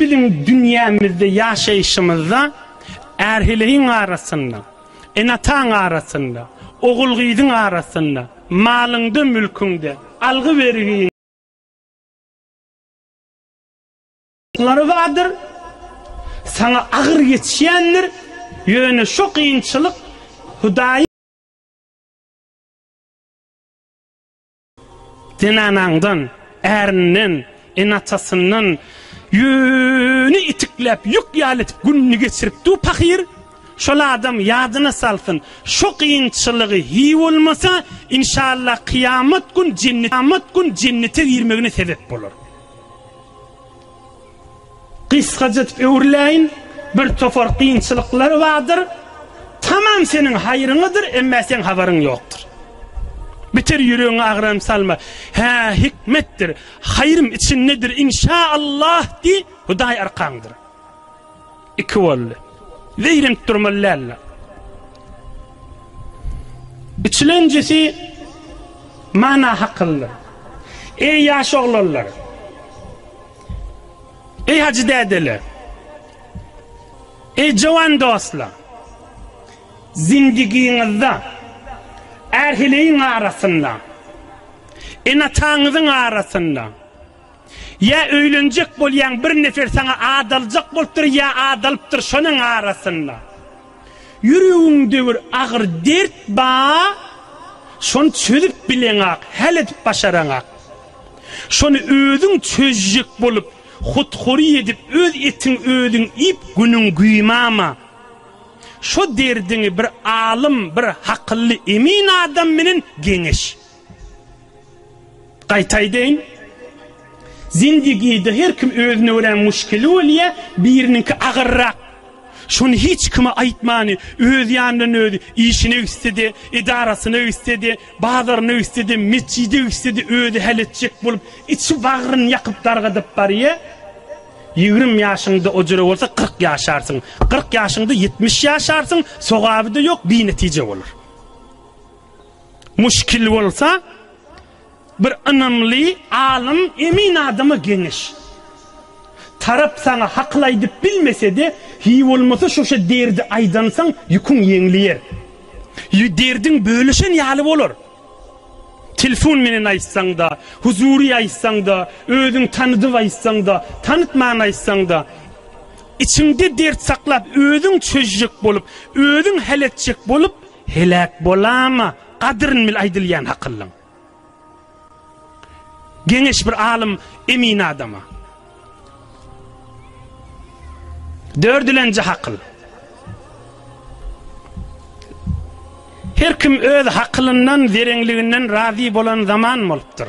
Biziň dünýämizde ýaşaýşymyzda är-heleýiň arasynda, ene-ataň arasynda, ogul-gyzyň arasynda, malyňda-mülküňde, algy-bergiň. Lary bardyr. Saňa agyr geçýändir, ýöne şo kynçylyk Hudaýy. Zenanaňdan, ärinden, ene-atasyndan ýüni itikläp, ýük ýaly edip gününi geçiripdi-u pahyr. Şol adam ýadyna salsyn, şo kynçylygy hiý bolmasa, inşallah kyýamat gün jennete girmegine sebep bolar. Gysgaja edip öwrüläýin, bir topar kynçylyklar bardyr, tamam seniň haýryňadyr, emma seň habaryň ýokdur. Beter ýüregiňi agram salma. Hä, hikmetdir, haýrym içindedir, inşa Allah diý, Hudaý arkaňdyr. Iki boldy. Zeýrenip durmaly däldir. Üçlenjisi mana hakyldyr. Eý ýaş oglanlar! Eý hajy dädeler! Eý jowan dostlar! Zindigiňizde ärheleýiň arasynda, ene-ataňyzyň arasynda, Ýa öýlenjek bolýaň bir nefer saňa adaljak bolupdyr ýa adalypdyr şonuň arasynda ýüregiňde bir agyr dert ba şony çözüp bileňak häl edip başaraňak şony özüň çözjek bolup hut hory edip öz etiň özüň iýip günüň güýmama şo derdiňi bir alym bir hakylly emin adam menen geňeş. Gaýta aýdaýyn, zindigide her kim özüne görä muşkili bolýa, biriniňki agyrrak. Şony hiç kime aýtmany, öz ýanyndan özi, işine gitse-de, edarasyna gitse-de, bazaryna gitse-de, metjide gitse-de özi häl etjek bolup, içi bagryny ýakyp dargadyp barýa. Ýigrimi ýaşyňda ojire bolsa kyrk ýaşarsyň, kyrk ýaşyňda ýetmiş ýaşarsyň, sogaby-da ýok, binetije bolar. Muşkil bolsa bir ynamly alym emin adama geňeş. Tarap saňa hakyl aýdyp bilmesede hiý bolmasa şuşa derdi aýdansaň ýüküň ýeňliýer. Ýü derdiň bölüşen ýaly bolar. Telfon menen aýtsaňda, huzury aýtsaňda, özüň tanydyp aýtsaňda, tanytman aýtsaňda içiňde dert saklap özüň çözjek bolup, özüň hal etjek bolup Heläk bolama gadyryn bil aýdylýan hakyllyň. Geňeş bir alym emin adama. Dördülenji hakyl. Her kim öz hakylyndan, zerenliginden razy bolan zaman bolupdyr.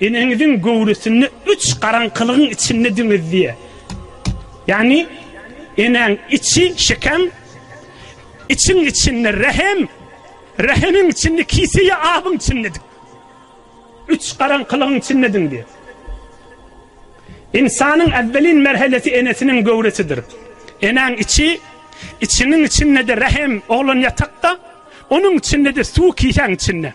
Eneňiziň göwresinde üç garaňkylygyň içinde diňiz diýýär. Ýagny enäň içi, şekem, içiň içinde rähem, rähemiň içinde kise ýa abyň içindedik. Üç garaňkylygyň içindediň diýýär. Ynsanyň äwwelin merhelesi enesiniň göwresidir. Enäň içi, içiňiň içinde-de rähem, oglan ýatakda, onuň içinde-de suw kisäň içinde.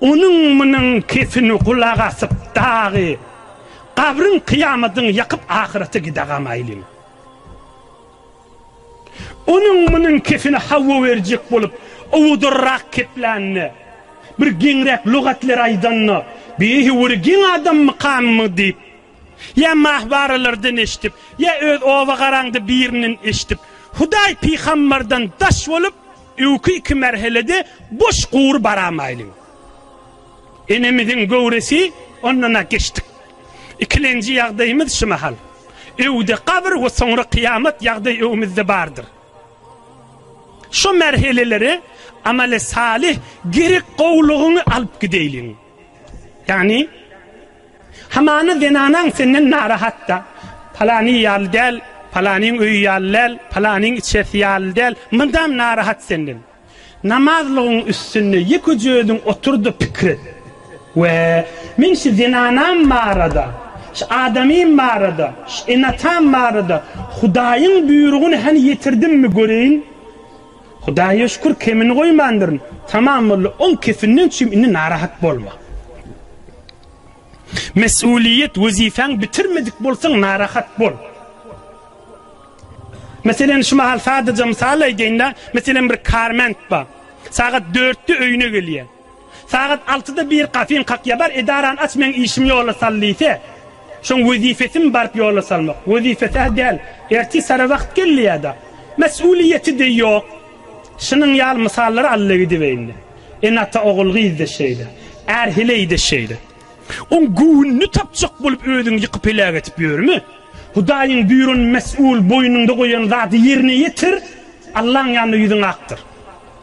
Onuň munuň kepini gulak asyp dagy gabryň kyýamadyňy ýakyp ahyrete gidagam aýlyň. Onuň munuň kepini hawa berjek bolup owadarrak keplände bir geňräk lugatler aýdanda beýhi wuri geň adam mykammy diýip Ýa mahwaralardan eşdip, ýa öz oba garaňda birinden eşdip, Hudaý pygambardan daş bolup, öwki iki merhelede boş gury baramaýlyň. Enemiziň göwresi ondan-a geçdik. Ikilenji ýagdaýymyz şu mahal. Öwde gabyr we soňra kyýamat ýagdaý öňümizde bardyr. Şu merheleleri amali-salyh, gerek gowulygyňy alyp gideýliň. Ýagny, hamana zenanaň senden narahat-da, Palanyň ýaly däl, palanyň öýi ýaly däl, palanyň içerisi ýaly däl, mydam narahat senden. Namazlygyň üstünde ýekeje özüň otur-da pikir et. We, men şu zenanam barada, şu adamym barada, şu ene-atam barada Hudaýyň buýrugyny hany ýetirdimmi göreýin? Hudaýa şükür kemini goýmandyryn. Tamam boldy, oň kefinden çüým indi narahat bolma. Mesulyýet wezipäň bitirmedik bolsaň narahat bol. Meselen şu mahal sadaja mysal aýdaýynda, meselen bir karment bar. Sagat dörtde öýüne gelýär. Sagat altyda bir kafeň kakýa bar edarany aç meň işim ýola sal diýse şoň wezifesimi baryp ýola salmak wezifesä däl ertir sara wagt geldi ýada mesulyýeti de ýok şunuň ýaly mysallary alla gidibeýinde ene ata ogul gyzda şeýle är heleýde şeýle oň göwnüni tapjak bolup özüňi ýykyp heläk etip ýörme hudaýyň buýran mesul boýnuňda goýan zady ýerine ýetir allaň ýanynda ýüzüň akdyr.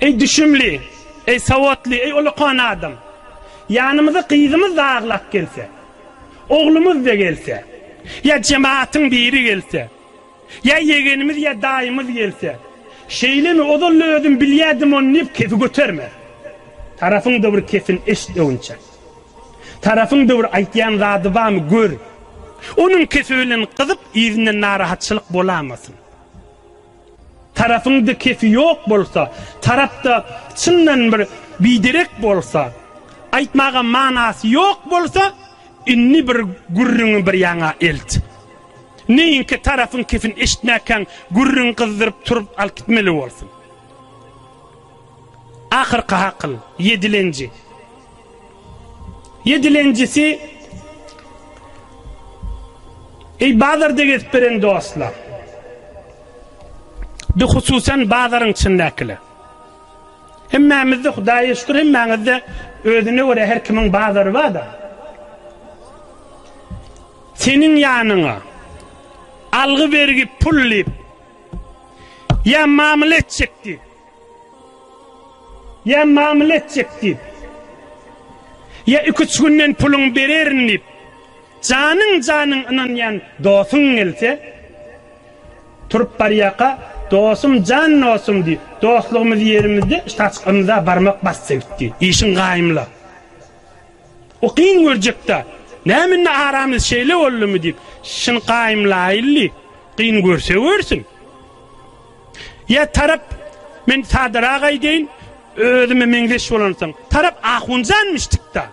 Eý düşümli, eý sowatly, eý ulakan adam! Ýanymyza gyzymyz-da aglap gelse, oglumyz-da gelse, ýa jematyň biri gelse, ýa ýegenimiz ýa daýymyz gelse, şeýlemi, ozal-da özüm bilýädim ony diýip kefi göterme. Tarapyňda bir kesini eşit öwünçek. Tarapyňda bir aýtýan zady barmy gör. Onuň kefi bilen gyzyp yzyndan narahatçylyk bolamasyn. Tarapyň da kefi ýok bolsa, tarapda çyndan bir biderek bolsa, aýtmaga manasy ýok bolsa, indi bir gürrüňi bir ýaňa elt. Neýinkä tarapyň kefini eşitmäkäň gürrüň gyzdyryp turup alyp gitmeli bolsun. Ahyrky hakyl, ýedilenji. Ýedilenjisi, Eý, bazarda gezip ýören dostlar! Bihususam bazaryň içindäkiler! Hemmämizde, Hudaýa şükür, hemmäňizde özüne görä her kimiň bazary bar-da. Seniň ýanyňa algy-bergi pul diýip ýa mamla etjek diýip, Ýa mamla etjek diýip, ýa iki-üç günden puluňy bererin diýip, janyň-janyň ynanýan dostuň gelse, turup barýarka, Dostum, jan dostum, diýip, dostlugymyzy ýerimizde ştaçk ymza barmak basdy gitdi. Işiň gaýmla. O kyn görjek-dä. Näme indi aramyz şeýle boldumy diýip, şyny gaýmlaýyldy. Kyn görse görsün. Ýa tarap, men sadarak aýdaýyn, özüme meňzeş bolansoň, tarap ahunjanmyşdykda.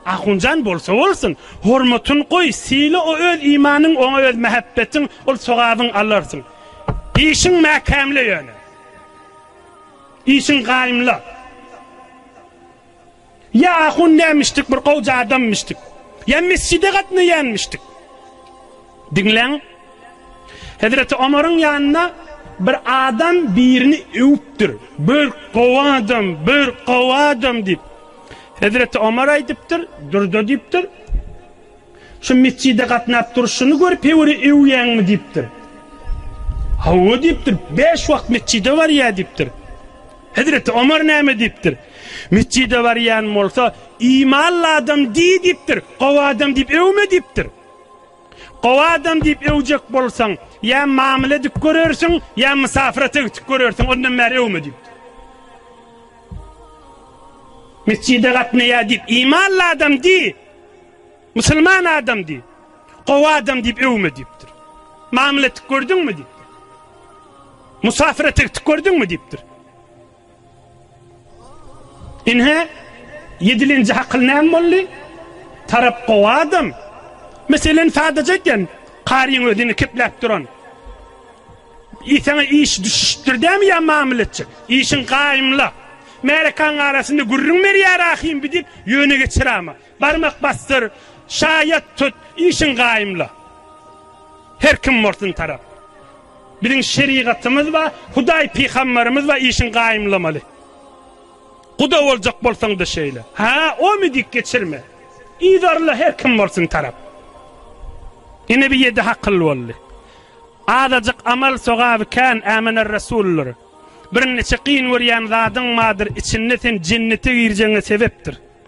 Ahunjan bolsa bolsun, hormatyn goý, syla o öz imanyň, oňa öz mähebbetiň, ol sogabyn alarsyň. Işiň mäkämle ýöne. Işiň gaýymla. Ýa ahun nämişdik bir gowja adammyşdyk. Ýa mesjide gatnaýanmyşdyk. Diňläň. Hezreti Omaryň ýanyna bir adam birini öwüpdir. Bir gowy adam, bir gowy adam diýip. Hezreti Omar aýdypdyr, durda diýipdir. Şu mesjide gatnap durşuny görüp hewri öwýäňmi diýipdir. Hawa diýipdir, beş wagt mesjide barýa diýipdir. Hezreti Omar näme diýipdir? Metjide barýan bolsa, Imanly adam diý diýipdir, gowy adam diýip öwme diýipdir. Gowy adam diýip öwjek bolsaň, ýa mamla edip görersiň, ýa mysafyrata gitip görersiň, ondan bäri öwme diýipdir. Metjide gatnaýar diýip, Imanly adam diý! Musulman adam diýip, gowy adam diýip öwme diýipdir. Mamla etdik gördüňmi diýipdir. Musafir etdik gördüňmi diýipdir. Inhe, yedilinci hakyl näm bolly? Tarap gowy adam. Meselen sadaja eken, karyň özüni kepläp duran. Isana iş düşüştür dämi ya mamil etçek? İşin kaymla. Merekan arasında gürrün ver ya rahim bidip, yöne geçir ama. Barmak basdyr, şaýat tut, işiň gaýymla. Her kim bolsun tarap. Biziň şerigatymyz bar, Hudaý pygamberimiz bar, işiň gaýymlamaly. Guda boljak bolsaň-da şeýle. Ha, omy dik geçirme. Yzarla her kim bolsun tarap. Ine bir ýedi hakyl boldy. Azajyk amal sogaby kän ämener resullar. Birnäçe kyn görýän zadyň bardyr, içinde sen jennete girjegiňe sebepdir.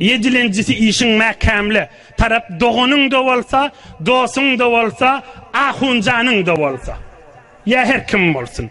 Ýedilenjisi işiň mäkämle. Tarap doganyň-da bolsa, dosuň-da bolsa, ahunjanyň-da bolsa. Ýa her kim bolsun.